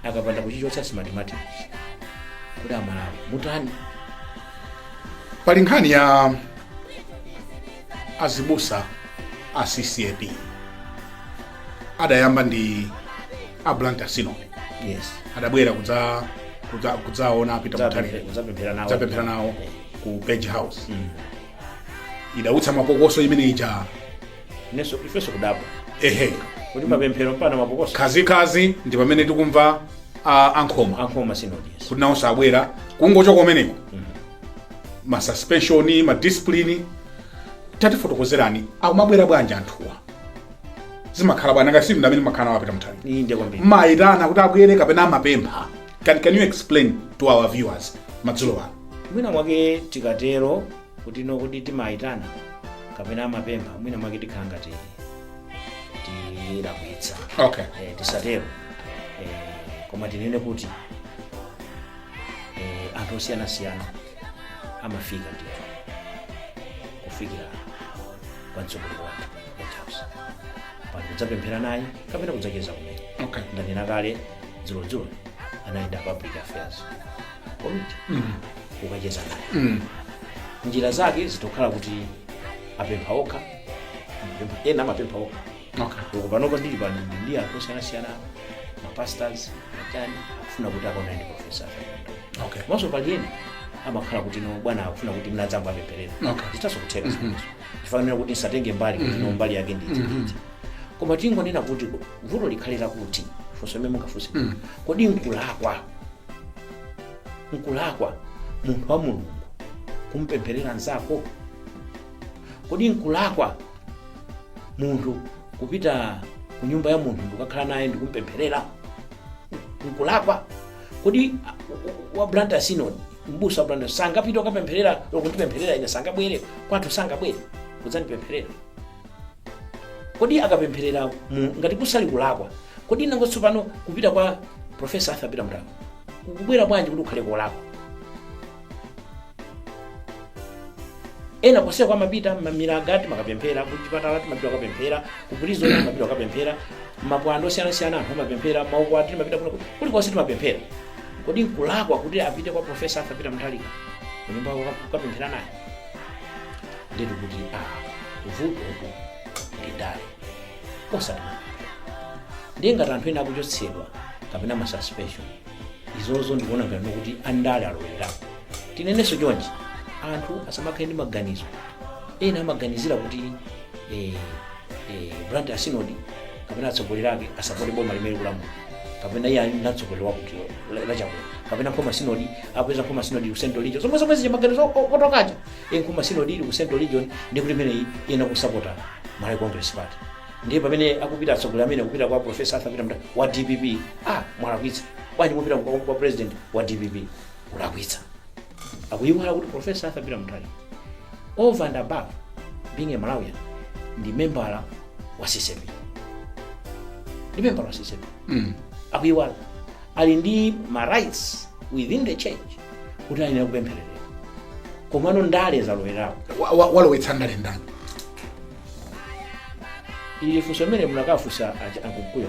akapanda kuchichotsa smartmatic kuti amalawi mutani pali nkhani ya azibusa a ccap adayamba ndi a Blantyre Synod yes adabwera kudza kudza- kudzaona a Peter Mutharika kudzapemphera nawo zapemphera nawo ku page house idautsa mapokoso imene ija Inenso ifenso kudabwa. ehe Kuti mapemphero mpaka mapokoso. khazikhazi ndi pamene tikumva a- ankhoma a Nkhoma Synod. yes. kuti nawonso abwera kungochoka kumeneko ma suspension ma discipline tatifotokozerani akumabwera bwanji anthuwa zimakhala bwanji ngati si inu amene mumakhala kwa Peter Mutharika inde kwambiri. mumayitana kuti abwere kapena amapempha can, can you explain to our viewers madzulo ano Mwina mwake tikatero kuti no kuti timayitana kapena amapempha mwina mwake tikhala ngati tilakwitsa okay eh, tisatero eh, koma tinene kuti eh, anthu osiyanasiyana amafika ndithu kufikira kwa mtsogoleri wathu ku Page House pali kudzapemphera naye kapena kudzacheza kumene okay ndanena kale dzulodzulo anayenda public affairs committee kukacheza naye njira zake zitha kukhala kuti apempha okha amapempha- ena amapempha okha okay uko panopo ndili pano ndi ndi anthu osiyanasiyana ma pastors atani akufuna kuti akaonane ndi profesa okay komanso pali ena amakhala kuti no bwana akufuna kuti mudzawapempherere Okay. zithanso kutheka zimenezo chifukwa kuti ndisatenge mbali kuti no mbali yake nditi nditi koma tingonena kuti vuto likhale lakuti funso limene mungafunse kodi nkulakwa Nkulakwa munthu wa Mulungu kumpempherera mnzako? Kodi nkulakwa munthu kupita ku nyumba ya munthu ndikukakhala naye ndikumpempherera? Nkulakwa? Kodi wa Blantyre Synod, mbusa wa Blantyre sangapite kukapempherera lokundipempherera ine sangabwere kwathu sangabwere kudzandipempherera? Kodi akapempherera mu ngati kusali kulakwa? Kodi nanga tsopano kupita kwa Professor Arthur Peter Mutharika kukubwera bwanji kuti kukhale kolakwa? ena konseko amapita mmilaga timakapemphera kuchipatala timapita kukapemphera ku prison timapita kukapemphera mapwando osiyanasiyana anthu amapemphera maukwati timapita kuno kulikonse timapemphera kodi nkulakwa kuti apite kwa profesa Arthur Peter Mutharika kunyumba kukapemphera naye ndiye kuti a vuto uku ndi ndale osati ndiye ngati anthu ena akuchotsedwa kapena ma suspension izozo ndikuona ngati kuti andale alowererapo tinenenso chonchi anthu asamakhale ndi maganizo ena amaganizira kuti eh, eh, blantyre sinodi kapena atsogoleri ake asapote boma limene kulamula kapena iye ali natsogoleri wakuti lachakwera kapena nkhoma sinodi apeza nkhoma sinodi ku central region zomwe zomwe zija maganizo o- oti paja e nkhoma sinodi ili ku central region ndi kuti imeneyi iyenera kusapota malawi congress party ndiye pamene akupita atsogoleri amene akupita kwa profesa arthur peter mutharika wa dpp ah mwalakwitsa bwanji mupita kwa kwa president wa dpp kulakwitsa akuyiwala kuti profesa arthur peter mutharika over and above being a malawian ndi membala wa ccap ndi membala wa ccap Mm. akuyiwala ali ndi ma rights within the church kuti ayenera kupemphereredwa komano ndale zalowerapo Wa- wa- walowetsa ndale ndani ili funso limene munakafunsa akumkuyo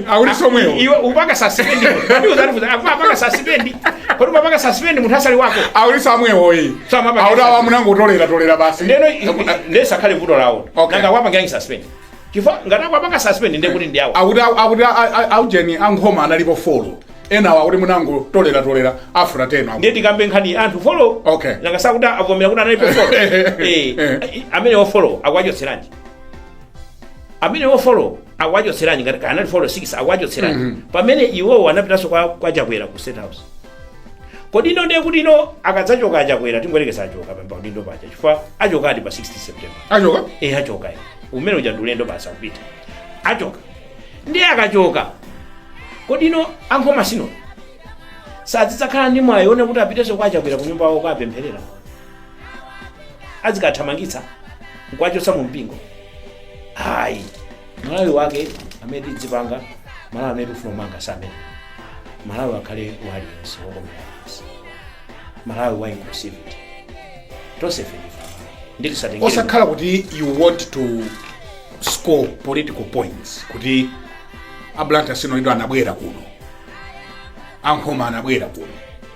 Awuliso mwewo. iwe upanga suspend kodi uzatifuza afa apanga suspend kodi umapanga suspend munthu asali wako Awuliso amwewo iyi. Sama pa- Awuda wamunango tolera tolera basi. ndeno ndesa khale vuto lawo Okay. nanga awapangiranji suspend chifukwa ngati akuwapanga suspend ndiye kuti ndi awo Awuda awuda awujeni ankhoma analipo folo. Enawa akuti munangotolera tolera after 10 awu. ndiye tikambe nkhani anthu folo Okay. nanga sakuti avomera kuti analipo folo Eh, eh, eh. eh amenewo folo akuwachotseranji amenewo folo akuwachotseranji ngati kaya anali folo 6 akuwachotseranji pamene iwowo anapitanso kwa, kwa chakwera ku state house kodi ino ndiye kuti ino akadzachoka achakwera tingoyerekeza achoka pa udindo paja chifukwa achokadi pa 16 september achoka e achoka e umene uja ndulendo basi akupita achoka ndiye akachoka kodi ino ankhoma sinodi sadzakhala ndi mwayi wonena kuti apitenso kwa achakwera ku nyumba yawo kapempherera azikathamangitsa nkuwachotsa mu mpingo ayi malawi wake amene tidzipanga malawi amene tifuna kumanga samene malawi akhale wa aliyense wokomera aliyense malawi wa inclusivity tonsefe nditisatengere osakhala kuti you want to score political points kuti a blantyre sinodi anabwera kuno ankhoma anabwera kuno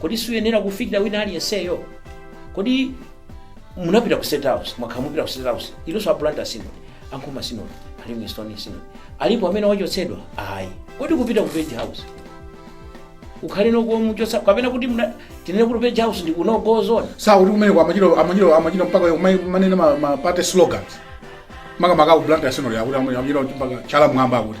kodi suyenera kufikira wina aliyenseyo kodi munapita ku state house mwakhala mupita ku state house inunso a blantyre sinodi ankhoma sinodi a livingstonia sinodi alipo amene wachotsedwa ayi kodi kupita ku page house ukhale nokuomuchotsa kapena kuti muna- tinene kuti page house ndi ku no go zone sakuti kumeneko amachita amachita amachita mpaka kumai- manene ma- ma party slogans makamaka aku blantyre sinodi akuti amachita mpaka chala mmwamba akuti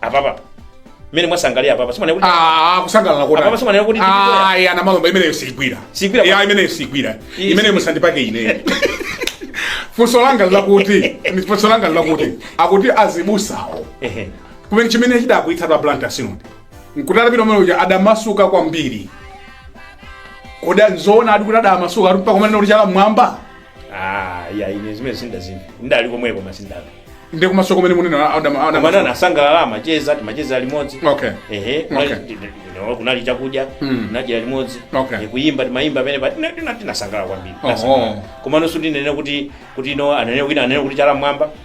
apapa mmene mwasangalalira apapa simunena kuti Ah, kusangalala kotani? Apapa simanena kuti ndikutoya. Ah, ya namalomba imeneyo siigwira Siigwira ya kwa- imeneyo siigwira Iyi imeneyo siigwira. musandipake ine funso langa lakuti funso langa lakuti akuti azibusawo ehe kumene chimene chidakwiyitsa a blantyre synod nkuti atapita kumene kuja adamasuka kwambiri kodi nzoona ati kuti adamasuka ati mpaka kumanena kuti chala mmwamba ah ya ine zimene sindazimve ndali komweko koma sindamve ndi kumaso kumene munena adam koma adam anasangalala amacheza timacheza limodzi okay ehe Okay. kunali- ndi- ndi- ndi- kunali chakudya Mm. nadyera limodzi Okay. Eh, kuyimba timayimba amene pa- tina- tina- tinasangalala kwambiri Oh, Tinasangalala. oh. koma nonso ndinene kuti kuti no anene wina ananena kuti chala mmwamba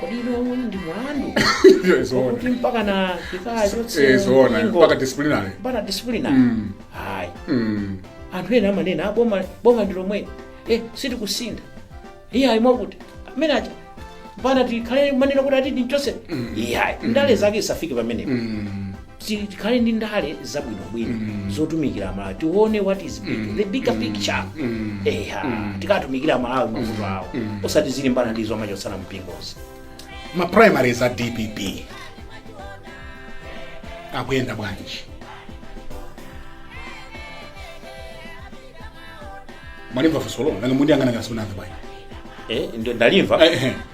kodi iwewo ndi mulandu Iyo izoona. okuti mpaka nkakafika Eh, chotse zoona. mpingo, Mpaka disciplinary. mpaka disciplinary Mm. hayi Mm. anthu ena amanena "Ah, boma boma ndi lomwe eh sitikusintha iyayi mwakuti amene aja mpana tikhale mmanena kuti atidi mchotse iyayi ndale zake zisafike pamenepo Mm. Ti- tikhale ndi ndale zabwinobwino zotumikira amalawi tione what is big, the bigger picture eha tikatumikira amalawi mavuto awo osati tizilimbana ndi zomachotsana mpingozi ma primaries a dpp akuyenda bwanji mwalimva funsolo nanga mukundiyang'ana ngati simunamve bwanji eh, ndo- ndalimva Eh, eh.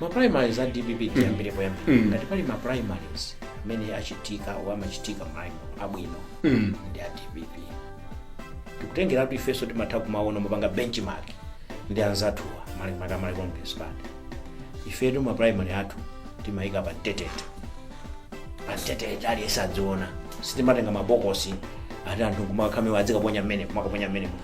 ma primaries a dpp tiyambire poyambira Mm. ngati pali ma primaries amene achitika o amachitika malaimo abwino Mm. ndi a dpp tikatengera kuti ifenso timatha kumaona timapanga benchmark ndi anzathuwa makamaka Malawi congress party ifetu ma primary athu timayika pa mbetete pa mbetete aliyense adziona sitimatenga mabokosi ati anthu okumakhalamo awa adzikaponya mmene kumakaponya mmene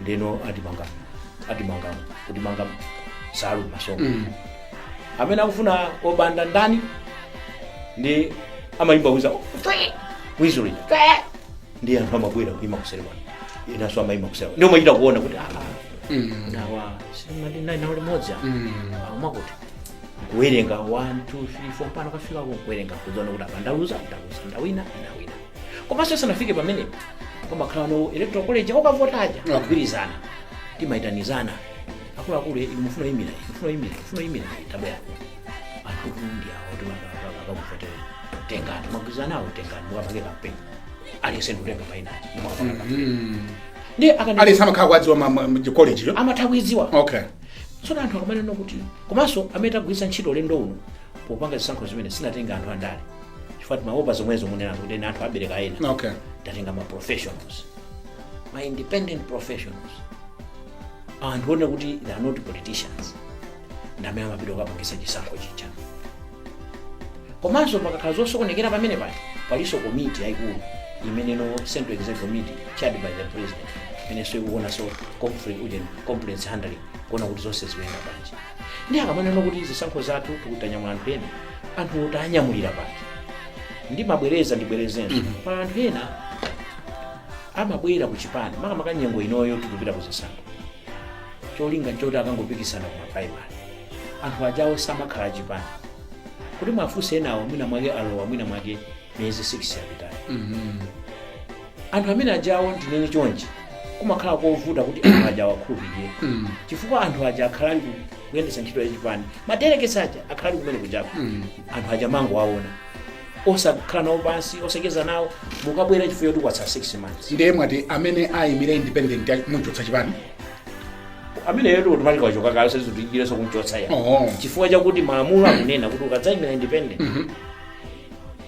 ndeno timawamanga timawamanga kuwamanga nsalu mmasomo Mm. amene akufuna obanda ndani ndiye amayimba wiza wizulo ndiye anthu amabwera kuyima kuseri kwawo inanso amayima kuseri kwawo ndiye umachita kuona kuti ah, Mm. ah, awa sitinali nawo limodzi apa. Mm. amati kuwerenga 1 2 3 4 mpaka kufika kuwerenga kudziona kuti apa ndaluza ndaluza ndawina ndawina komanso sanafike pamenepo pamakhala ndi electoral college okavota aja Yeah. akugwirizana timayitanizana akuluakulu inu mufuna kuyimira inu mufuna kuyimira inu mufuna kuyimira tabwera anthu kundia kuti akakuvotera tengani mwagwirizana awo tengani mukapange kampeni aliyense ndikutenga painaji mukapange kampeni ndiye akana aliyense amakhala akuidziwa kolejiyo amatha kuidziwa okay tsono anthu akamanena kuti komanso amene tagwiritsa ntchito ulendo uno popanga zisankho zimenezi sitinatenge anthu andale chifukwa timaopa zomwezo mukunena kuti ena anthu abereka ena okay tatenga ma professionals ma independent professionals anthu one kuti they are not politicians ndi amene amapita kukapangitsa chisankho chija komanso pakakhala zosokonekera pamene pati palinso komiti yayikulu imene ndi central executive committee chaired by the president imenenso ikuonanso conflict uje complaints handling kuona kuti zonse zikuyenda bwanji ndiye akamanena kuti zisankho zathu tikuwanyamula anthu ena anthu otanyamulira paja ndimabwereza ndibwerezenso pali anthu ena amabwera ku chipani makamaka nyengo inoyo tikupita ku zisankho cholinga nchoti akangopikisana ku maprimary anthu ajawo samakhala chipani kuti mwafunse enawo mwina mwake alowa mwina mwake miyezi 6 yapitayo anthu amene ajawo ndinene chonchi kumakhala kovuta kuti anthu aja awakhulupirire Mm. chifukwa anthu aja akhala ali ku- kuyendetsa ntchito yachipani ma delegates aja akhala ali kumene kujako Mm. anthu aja mumangowaona osakhala nawo pansi osacheza nawo mukabwera chifukwa choti kwatsala 6 months ndiye mwati amene ayimire independent ali- muchotsa chipani ameneyo ndi automatic wachoka kale sizikutengeranso kumchotsa ya Oh. chifukwa chakuti malamulo akunena kuti ukadzayimira independent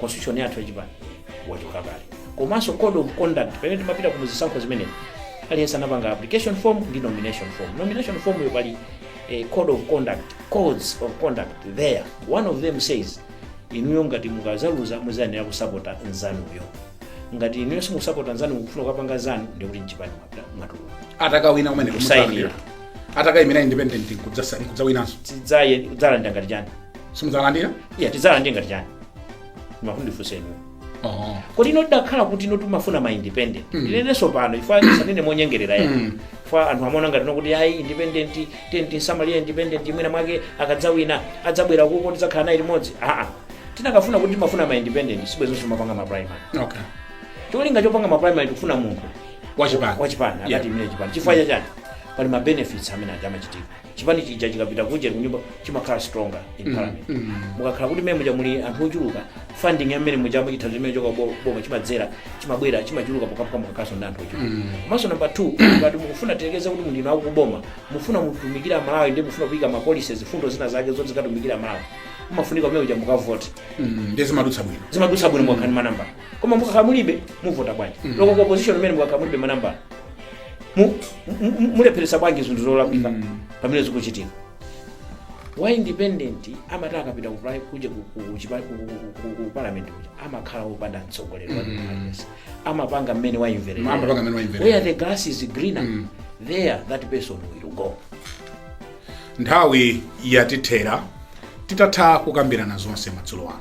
constitution yathu yachipani wachoka kale komanso code of conduct pamene timapita ku zisankho zimenezi aliyense anapanga application form ndi nomination form nomination form yo pali eh, code of conduct codes of conduct there one of them says inuyo ngati mukazaluza muzayenera kusapota nzanuyo ngati inuyo simusapota nzanu mukufuna kukapanga zanu ndikuti mchipani mwatuluka atakawina kumene Kusayinira. atakayimira independent nkudzasa- nkudzawinanso tidzalandira kudzalandira ngati chani simudzalandira iya tidzalandire ngati chani mufuna mundifunse inu oh. kodi ife tidakhala kuti ife timafuna ma independent Mm. ndinenenso pano ife sitinena monyengerera ya Mm. chifukwa anthu amaona ngati ndi kuti ayi independent tenti nsamalira independent mwina mwake akadzawina adzabwera kuko tidzakhala naye limodzi aa tikanakhala kuti timafuna ma independent sibwezi timapanga ma primary okay cholinga chopanga ma primary tikufuna munthu wachipani wachipani Yeah. akatiimire chipani chifukwa chachani pali ma benefits amene aja amachitika chipani chija chikapita kunja kunyumba chimakhala stronger in parliament mukakhala kuti mmene muja muli anthu ochuluka funding ya mmene mujamo chithandizo chimene chochoka bo- boma chimadzera chimabwera chimachuluka pokhapokha mukakhalanso ndi anthu ochuluka komanso namba 2 ngati mukufuna tiyerekeze kuti muli inu akuboma mufuna mutumikira amalawi ndiye mufuna kuyika ma policies mfundo zina zake zoti zikatumikira amalawi mumafunika kumene kuja mukavote ndiye zimadutsa bwino zimadutsa bwino mukakhala ndi manamba koma mukakhala mulibe muvota bwanji loko ndi ku opposition kumene mukakhala mulibe manambala mu- mu- mu- mulepheresa bwanji zinthu zolakwika pamene zikuchitika wa independent amati akapita ku pri- kuja ku- ku- ku chipa- ku- ku- ku- ku parliament kuja amakhala wopanda mtsogoleri wa democracy amapanga mmene waimverera Amapanga mene waimvera. where the grass is greener there that person will go Nthawi yatithera titatha kukambirana zonse madzulo ano.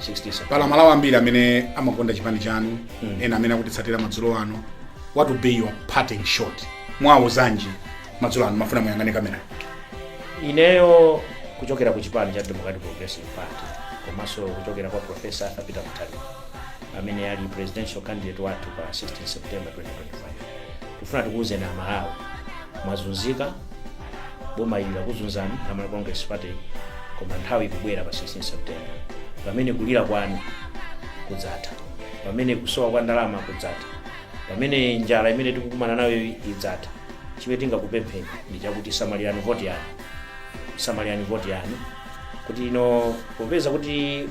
60 pali amalawi ambiri amene amakonda chipani chanu ena amene akutitsatira madzulo ano what will be your parting shot muwauza zanji madzulo ano ndimafuna muyang'ane kamera ineyo kuchokera ku chipani cha democratic progressive party komanso kuchokera kwa profesa arthur peter mutharika amene ali presidential candidate wathu pa 16 september 2025 tifuna tikuwuzeni aMalawi mwazunzika boma ili lakuzunzani a Malawi congress party koma nthawi ikubwera pa 16 september pamene kulira kwanu kudzatha pamene kusowa kwa ndalama kudzatha pamene njala imene tikukumana nayo idzatha chimene tingakupempheni ndi chakuti samalirani voti yanu samalirani voti yanu kuti ino popeza kuti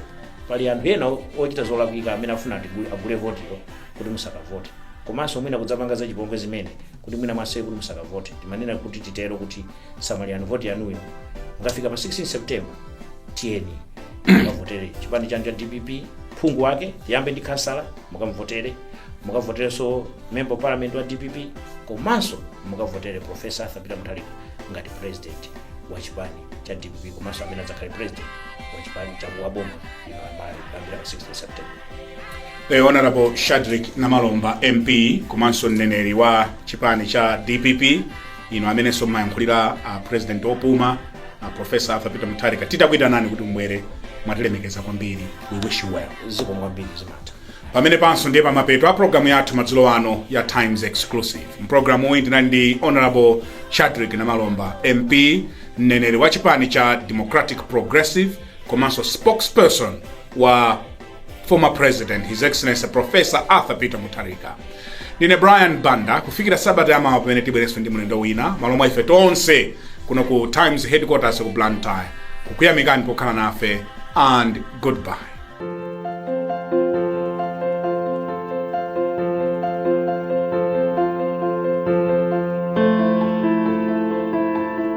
pali anthu ena ochita zolakwika amene afuna atigule- agule votiyo kuti musakavote komanso mwina kudzapanga zachipongwe zimene kuti mwina mwaseye kuti musakavote timanena kuti titero kuti samalirani voti yanuyo mukafika pa 16 september tiyeni mukavotere chipani chanu cha dpp phungu wake tiyambe ndi khansala mukamvotere mukavoterenso member parliament wa dpp komanso mukavotere profesa arthur peter mutharika ngati president wa chipani cha dpp komanso amene adzakhale president wa chipani cha wa boma The Honorable Shadrick Namalomba MP komanso mneneri wa chipani cha DPP ino amenenso mumayankhulira a president opuma a professor Arthur Peter Mutharika titakuitanani kuti mubwere mwatilemekeza kwambiri we wish you well zikomo kwambiri zimatha pamenepanso ndiye pamapeto a programu yathu madzulo ano ya times exclusive mprogramu iyi ndinali ndi honorable shadrick namalomba mp mneneri wa chipani cha democratic progressive komanso spokesperson wa former president his excellency professor arthur peter mutharika ndine brian banda kufikira sabata yamawa pamene tibwerenso ndi mlendo wina mmalo mwa ife tonse kuno ku times headquarters ku blantyre kukuyamikani pokhala nafe and goodbye